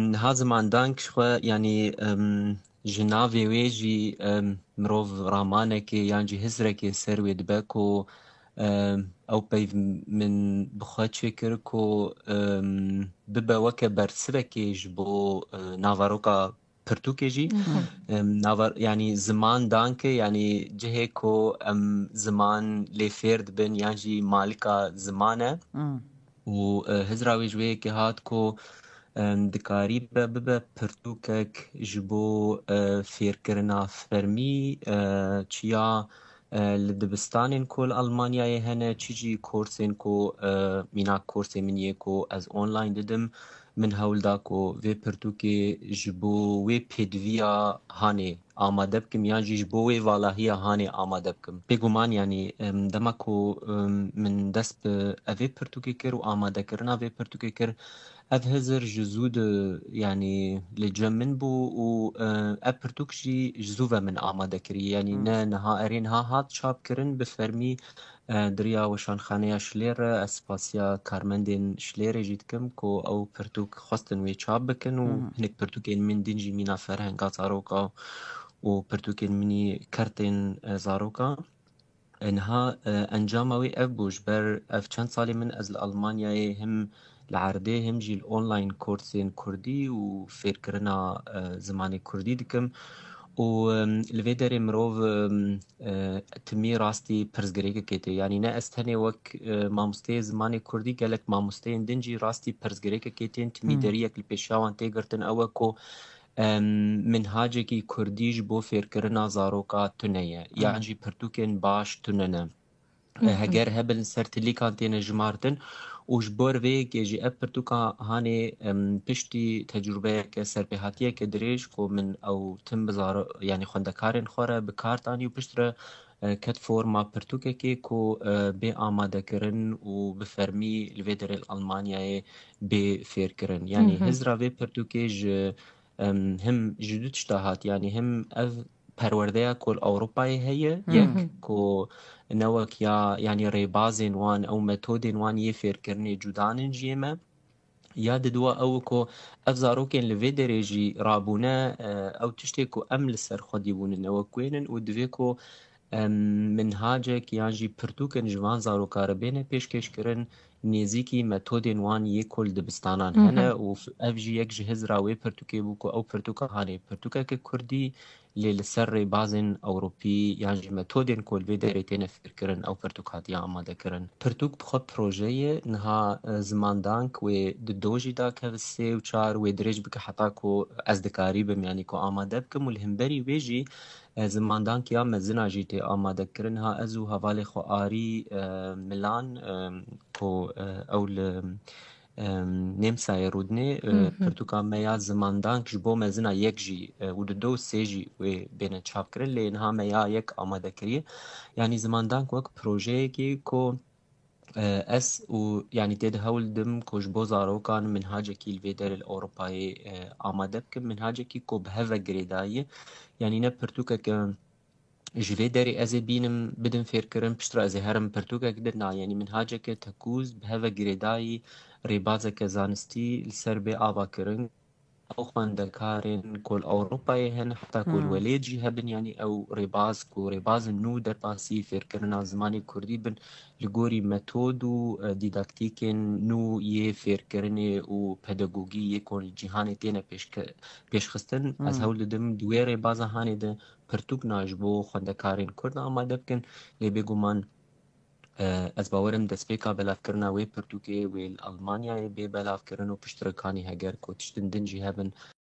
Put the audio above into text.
Niha zimandank ji xwe yanî ji navê wê jî mirov ramanekê yan jî hizrekê ser wê dibe ku ew peyv min bi xwe çêkir ku bibe weke bersivekê ji bo navaroka pirtûkê jî yanî ziman danke yanî cihê ku em ziman lê fêr dibin yan jî malika ziman e. û hizra wê ji wê yekê hat ku dikarîbe bibe pirtûkek ji bo fêrkirina fermî çiya li dibistanên ku li Elmanyayê hene çi jî korsên ku mînak korsê min yê ku ez online didim min hewl da ku vê pirtûkê ji bo wê pêdiviya hanê amade bikim yan jî ji bo wê valahiya hanê amade bikim. Bêguman yanî dema ku min dest bi evê pirtûkê kir û amadekirina vê pirtûkê kir ev hizir ji zû di yanî li cem min bû û ev pirtûk jî ji zû ve min amade kiriye. Yanî ne niha erê niha hat çapkirin bi fermî Duriya Weşanxaneya Şilêr re ez spasiya karmendên Şilêrê jî dikim ku ew pirtûk xwestin wê çap bikin û hinek pirtûkên min din jî mîna ferhenga zaroka û pirtûkên minî kertên zaroka. Niha encama wê ev bû ji ber ev çend salê min ez li Elmanyayê him Li erdê him jî li online korsên kurdî û fêrkirina zimanê kurdî dikim û li vê derê mirov timî rastî pirsgirêkekê tê. Yanî ne ez tenê wek mamosteyê zimanê kurdî gelek mamosteyên din jî rastî pirsgirêkekê tên. Timî deriyek li pêşiya wan tê girtin ew e ku minhacekî kurdî ji bo fêrkirina zaroka tune ye yan jî pirtûkên baş tune ne. Heger hebin li ser tilîkan têne jimartin û ji ber vê yekê jî ev pirtûkan hanê piştî tecrûbeyeke serpêhatiyeke dirêj ku min ew tim bi zaro yanî xwendekarên xwe re bi kar danî û piştre ket forma pirtûkekê ku bê amadekirin û bi fermî li vê derê li Elmanyayê bê fêrkirin. Yanî hizra vê pirtûkê ji him ji du tişta hat yanî him ev perwerdeya ku li Ewropayê heye yek ku ne wek ya yanî rêbazên wan ew metodên wan yê fêrkirinê cuda nin ji yê me. Ya di duwa ew ku ev zarokên li vê derê jî rabûne ew tiştê ku em li ser xwedî bûnin ew wek wê nin û divê ku minhacek yan jî pirtûkin ji van zarokare bêne pêşkêşkirin nêzîkî metodên wan yê kol dibistanan hene û ev jî yek ji hizra wê pirtûkê bû ku ew pirtûka hanê pirtûkeke kurdî lê li ser rêbazên ewropî yan jî metodên ku li vê derê têne fêrkirin ew pirtûk hatiye amadekirin. Pirtûk bi xwe proje ye, niha zimandank wê di do jî da ke sê û çar wê dirêj bike heta ku ez dikarîbim yanî ku amade bikim û li hemberî wê jî Zimandankiya mezina jî tê amadekirin. Ha ez û hevalê xwe Arî Milan ku ew li Nêmsayê rûdinê pirtûka me ya zimandank ji bo mezina yek jî û di du û sê jî wê bêne çapkirin lê niha me ya yek amadekiriye. Yanî zimandank wek projeyekî ku Ez û yanî tê de hewl didim ku ji bo zarokan minhacekî li vê derê li Ewropayê amade bikim, minhacekî ku bi hev ve girêdayî ye. Yanî ne pirtûkeke ji vê derê ez ê bînim, bidim fêrkirin, piştre ez ê herim pirtûkek din. Na, yanî minhaceke tekûz, bi hev ve girêdayî, rêbazeke zanistî li ser bê ava kirin. Ew xwendekarên ku li Ewropayê hene heta ku li welêt jî hebin yanî ew rêbaz ku rêbazên nû derbasî fêrkirina zimanê kurdî bin li gorî metod û dîdaktîkên nû yê fêrkirinê û pedagogî yê ku li cîhanê têne pêşxistin. Ez hewl didim di wê rêbaza hanê de pirtûk na ji bo xwendekarên kurd amade bikin lê bêguman Ez bawer im destpêka belavkirina wê pirtûkê wê li Elmanyayê bê belavkirin û piştre kanî heger ku tiştên din jî hebin,